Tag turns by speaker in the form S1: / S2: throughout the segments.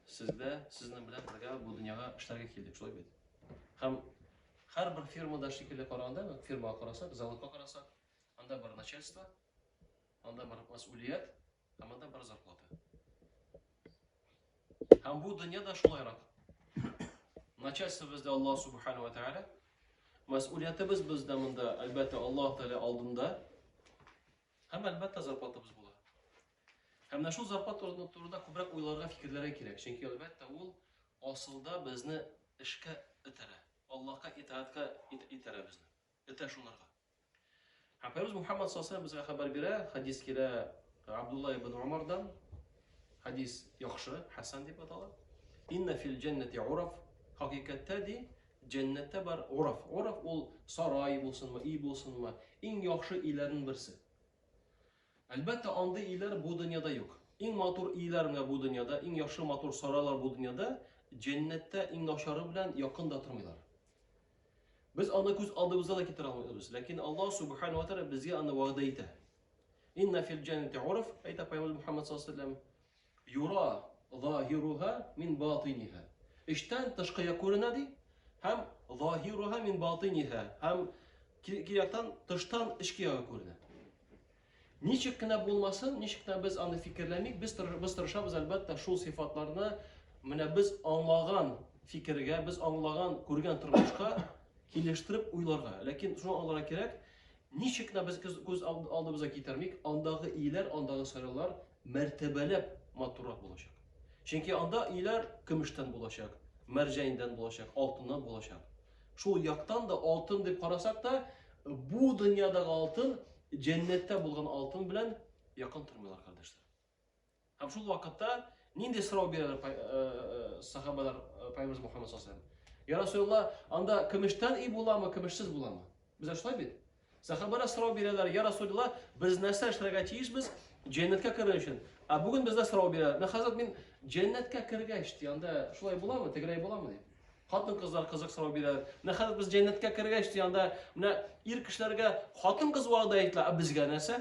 S1: Сез дә сезнең белән бергә бу дөньяга эшләргә килдек, шулай бит? Һәм һәрбер фирмада шикелле караганда, фирмага карасак, заводка карасак, анда бар начальство, анда бар мәс'улият, һәм анда бар зарплата. Һәм бу дөнья да шулайрак. Начальство бездә Аллаһ субхана ва тааля. Мәсъулиятебез бездә монда, әлбәттә, Аллаһ Тәгалә алдында. Һәм әлбәттә зарплатабыз була. Һәм менә шул зарплат турында күбрәк уйларга, фикерләргә кирәк, чөнки, әлбәттә, ул асылда безне эшкә этәрә, Аллаһка итаатька итәрә безне, этә шунарга. Һәм Пәйгамбәрбез Мухәммәд саллаллаһу галәйһи ва сәлләм безгә хәбәр бирә, хәдис килә Абдулла ибн Умардан, хәдис яхшы, хәсән дип атала. Инна фил җәннәти ураф, хакыйкатьтә ди, җәннәттә бар ураф. Ураф ул сарай булсынмы, өй булсынмы, иң яхшы өйләрнең берсе. Әлбәттә, андый ийләр бу дөньяда юк. Иң матур ийләр менә бу дөньяда, иң яхшы матур сарайлар бу дөньяда, җәннәттә иң начары белән якын да тормыйлар. Без аны күз алдыбызга да китерә алмыйбыз, ләкин Аллаһ Субхана ва Тәгалә безгә аны вәгъдә итә. Инна фил җәннәти урф, әйтә Пәйгамбәрбез Мухаммәд саллаллаһу алейһи ва сәлләм, Юра заһируһа мин батиниһа, эчтән тышкыя күренә, ди, һәм заһируһа мин батиниһа, һәм ки-ки яктан тыштан эчкеяга күренә. Ничек кенә булмасын, ничек кенә без аны фикерләмик, без тыры- без тырышабыз, әлбәттә, шул сыйфатларны менә без аңлаган фикергә, без аңлаган, күргән тормышка килештереп уйларга. Ләкин шуны аңларга кирәк, ничек кенә без күз, күз алд- алдыбызга китермик, андагы ияләр, андагы сайлаулар мәртәбәләп матуррак булачак. Чөнки анда өйләр көмештән булачак, мәрҗәндән булачак, алтыннан булачак. Шул яктан да алтын дип карасак та, бу дөньядагы алтын җәннәттә булган алтын белән якын тормыйлар, кардәшләр. Һәм шул вакытта нинди сорау бирәләр э, э, сахабалар э, Пайгамбарыбыз Мухаммад саллаллаху алейхи ва Я Расулаллах, анда көмештән өй буламы, көмешсез буламы? Без шулай бит. Сахабалар сорау бирәләр, я Расулилла, без нәрсә эшләргә тиешбез җәннәткә керер өчен? Ә бүген бездә сорау бирәләр. Мә хәзрәт, мин җәннәткә кергәч, ди, анда шулай буламы, тегерәй буламы ди. Хатын кызлар кызык сорау бирәләр. Мә хәзрәт, без җәннәткә кергәч, ди, анда менә ир кешеләргә хатын кыз вәгъдә ителә, ә безгә нәрсә?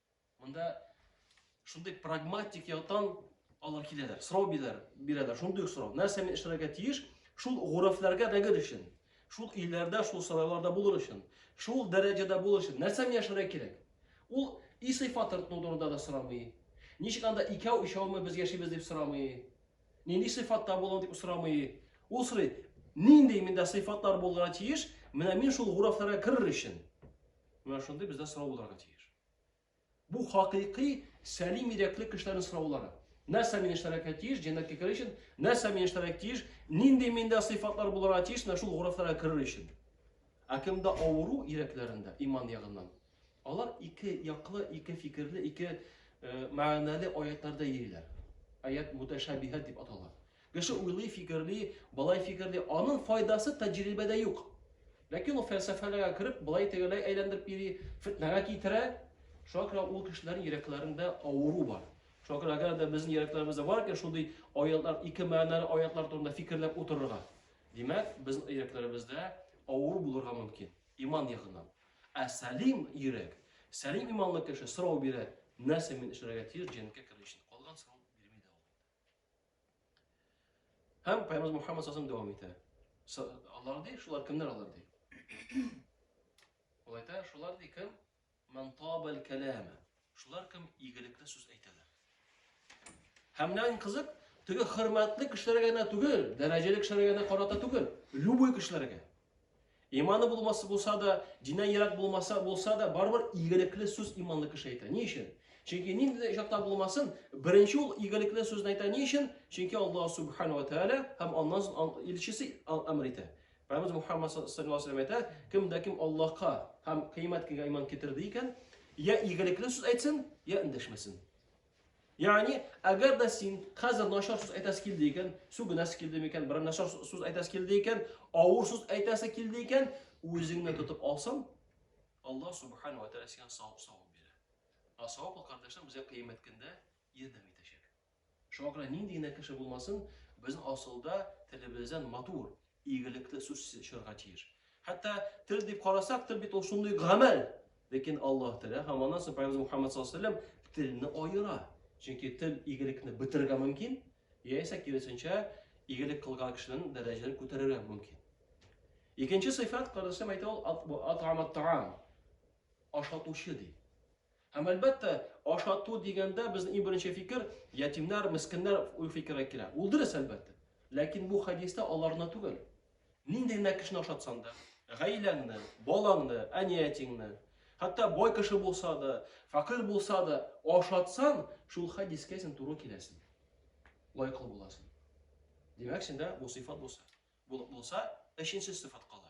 S1: Монда шундый прагматик яктан алар киләләр, сорау бирәләр, бирәләр, шундый сорау. Нәрсә мин эшләргә тиеш? Шул гурәфләргә дәгер өчен, шул илләрдә, шул сарайларда булыр өчен, шул дәрәҗәдә булыр өчен нәрсә мин яшәргә кирәк? Ул и сыйфатын турында да сорамый. Ничек анда икәү, өчәүме без яшибез дип сорамый. Нинди сыйфатта булам дип сорамый. Ул сорый, нинди миндә сыйфатлар булырга тиеш? Менә мин шул гурәфләргә керер өчен. Менә шундый бездә сорау булырга тиеш. Бу хакыйкый сәлим йөрәкле кешеләрнең сораулары. Нәрсә мин эшләргә тиеш, җәннәткә керер өчен? Нәрсә мин эшләргә тиеш? Нинди миндә сыйфатлар булырга тиеш, менә шул гурафларга керер өчен? Ә кемдә авыру йөрәкләрендә иман ягыннан? Алар ике яклы, ике фикерле, ике э, мәгънәле аятларда йөриләр. Аят муташабиһат дип атала. Кеше уйлый, фикерли, болай фикерли, аның файдасы тәҗрибәдә юк. Ләкин ул фәлсәфәләргә кереп, болай тегеләй әйләндереп йөри, фетнәгә китерә. Шуңа күрә ул кешеләрнең йөрәкләрендә авыру бар. Шуңа күрә әгәр дә безнең йөрәкләребездә бар икән шундый аятлар, ике мәгънәле аятлар турында фикерләп утырырга. Димәк, безнең йөрәкләребездә авыру булырга мөмкин, иман ягыннан. Ә сәлим йөрәк, сәлим иманлы кеше сорау бирә, нәрсә мин эшләргә тиеш җәннәткә керер өчен? Калган сорау бирми дә ул. Һәм Пәйгамбер Мухаммад сасым дәвам итә. Алар ди, шулар кемнәр алар ди? Ул әйтә, шулар ди кем? Ман табал калама. Шулар кем игелекле сүз әйтәләр. Һәм нән кызык, теге хөрмәтле кешеләргә генә түгел, дәрәҗәле кешеләргә генә карата түгел, любой кешеләргә. Иманы булмасы булса да, дине ерак булмаса булса да, барыбер игелекле сүз иманлы кеше әйтә. Ни өчен? Чөнки нинди дә очракта булмасын, беренче ул игелекле сүзне әйтә. Ни өчен? Чөнки Аллаһ субхану ва тааля һәм аннан соң илчесе әмер итә. Пәйгамбер Мухаммад саллаллаху алейхи ва сәлләм әйтә, кем дә кем Аллаһка һәм кыямәт көнгә иман китерде икән, я игелекле сүз әйтсен, я эндәшмәсен. Ягъни, әгәр дә син хәзер начар сүз әйтәсе килде икән, сүгенәсе килде микән, бер начар сүз әйтәсе килде икән, авыр сүз әйтәсе килде икән, үзеңне тотып алсаң, Аллаһ субхану ва тааля сиңа савап савап бирә. А савап ул кардәшләр безгә кыямәт көндә ярдәм итәчәк. Шуңа күрә нинди генә кеше булмасын, без асылда телебездән матур, Игелекле сүз чыгарга тиеш. Хәтта тел дип карасак, тел бит ул шундый гамәл. Ләкин Аллаһ Тәгалә һәм аннан соң Пәйгамбер Мухаммад саллаллаһу алейһи ва сәлләм телне аера. Чөнки тел игелекне бетерергә мөмкин, яисә киресенчә, игелек кылган кешенең дәрәҗәсен күтәрергә мөмкин. Икенче сыйфат, кардәшләр, әйтә ул атамат таам. Ашатучы ди. Һәм әлбәттә, ашату дигәндә безнең иң беренче фикер, ятимнәр, мескеннәр фикере килә. Ул дөрес, әлбәттә. Ләкин бу хәдистә аларны түгел. Нинди генә кешене ашатсаң да, гаиләңне, балаңны, әни-әтиңне, хәтта бай кеше булса да, фәкыйрь булса да, ашатсаң, шул хәдискә син туры киләсең. Лайыклы буласың. Димәк, синдә бу сыйфат булса, булса, өченче сыйфат кала.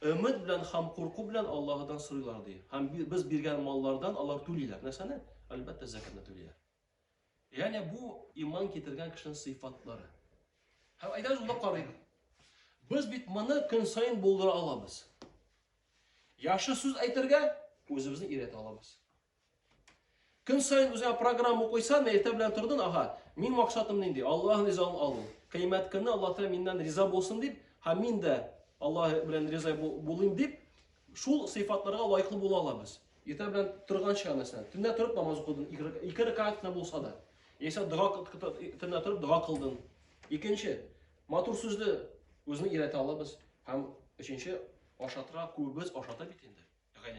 S1: Өмет белән һәм курку белән Аллаһыдан сорыйлар, ди. Һәм без биргән маллардан алар түлиләр. Нәрсәне? Әлбәттә, зәкәтне түлиләр. Ягъни бу иман китергән кешенең сыйфатлары. Һәм әйдәгез ул карыйк. Без бит моны көн саен булдыра алабыз. Яхшы сүз әйтергә үзебезне өйрәтә алабыз. Көн саен үзеңә программа куйсаң, иртә белән тордың, ага, мин максатым нинди? Аллаһның ризалыгын алу. Кыямәт көнне Аллаһ Тәгалә миннән риза булсын дип, һәм мин дә Аллаһ белән риза булыйм дип, шул сыйфатларга лаеклы була алабыз. Иртә белән торганча, мәсәлән, төнлә торып намаз укыдың, ике рәкәгать кенә булса да. Яисә дога төнлә торып дога кылдың. Икенче, матур сүзле үзне өйрәтә алабыз. Һәм өченче, ашатырга күбебез ашата бит инде.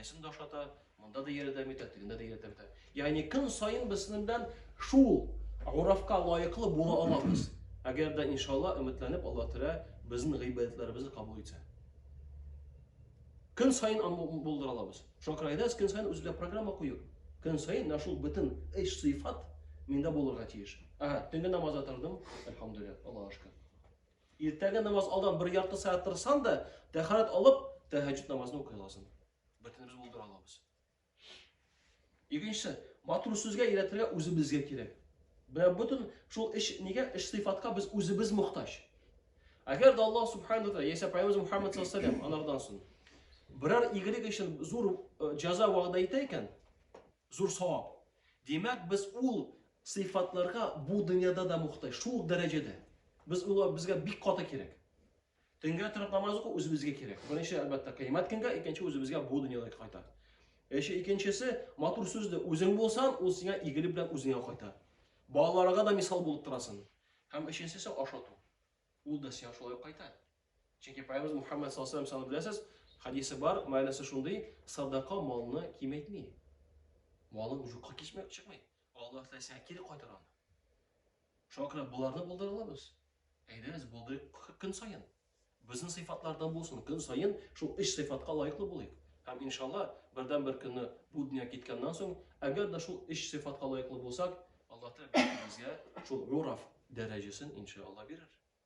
S1: Гаиләсен дә ашата, монда да ярдәм итә, тегендә дә ярдәм итә. Ягъни көн саен без сезнең белән шул гурафка лаеклы була алабыз. Әгәр дә иншалла өметләнеп Аллаһ Тәгалә безнең гыйбадәтләребезне кабул итсә. Көн саен аны булдыра алабыз. Шуңа күрә әйдәгез көн саен үзегезгә программа куеп, көн саен менә шул бөтен эш сыйфат миндә булырга тиеш. Ага, төнге намазга тордым, альхамдулилла, Аллаһка шөкер. Иртәге намаз алдан бер ярты сәгать тырышсаң да, тәхәрәт алып, тәһәҗҗүд намазын укый аласың. Бөтенебез булдыра алабыз. Икенчесе, матур сүзгә өйрәтергә үзебезгә кирәк. Бә бөтен шул эш нигә эш сыйфатка без үзебез мохтаҗ. Әгәр дә Аллаһ субхану ва тааля яисә пайгамбарыбыз Мухаммад саллаллаху алейһи ва саллям анардан соң берәр игелек өчен зур э, җәза вәгъдә итә икән, Зур савап. Димәк, без ул сыйфатларга бу дөньяда да мохтаҗ, шул ук дәрәҗәдә. Без улар безгә бик каты кирәк. Төнгә торып намаз уку үзебезгә кирәк. Беренче, әлбәттә, кыямәт көнгә, икенче үзебезгә бу дөньяда кайта. Эше икенчесе, матур сүзле үзең булсаң, ул сиңа игелек белән үзеңә кайта. Балаларга да мисал булып торасың. Һәм өченчесе ашату. Ул да сиңа шулай кайта. Чөнки Пәйгамбәрбез Мухаммәд саллаллаһу алейһи ва саллям беләсез, хадисе бар, мәгънәсе шундый, садака малны кимәйтми. Малың юкка кичмәк чыкмый. Аллаһ Тәгалә сиңа кире кайтар аны. Шуңа күрә боларны булдыра алабыз. Әйдәгез, булдырыйк көн саен. Безнең сыйфатлардан булсын, көн саен шул өч сыйфатка лаеклы булыйк. Һәм иншалла, бердән-бер көнне бу дөнья киткәннән соң, әгәр дә шул өч сыйфатка лаеклы булсак, Аллаһ Тәгалә безгә шул гураф дәрәҗәсен иншалла бирер.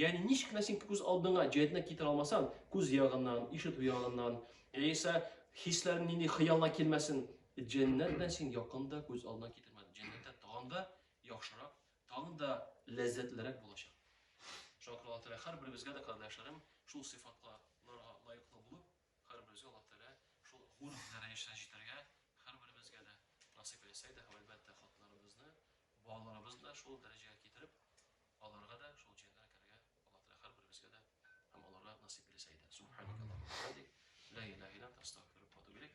S1: Ягъни ничек кенә син күз алдыңа җәдне китерә алмасаң, күз ягыннан, ишетү ягыннан, яисә хисләрен нинди хыялга килмәсен, җәннәт белән син якын да күз алдына китермәдең. Җәннәттә тагын да яхшырак, тагын да ләззәтлерәк булачак. Шуңа күрә Аллаһ Тәгалә һәрберебезгә дә, кардәшләрем, шул сыйфатларга лаеклы булып, Һәрберебезгә Аллаһ Тәгалә шул хур дәрәҗәсенә җитәргә һәрберебезгә дә насыйп әйтсә иде һәм, әлбәттә, хатыннарыбызны, балаларыбызны да шул дәрәҗәгә китереп, аларга да шул җәннәткә керергә Аллаһ Тәгалә һәрберебезгә дә һәм аларга насыйп эйләсә иде. Субханакаллаһумма ва бихамдик, ла илаһа илля анта, астәгъфирүк ва атубу иләйк.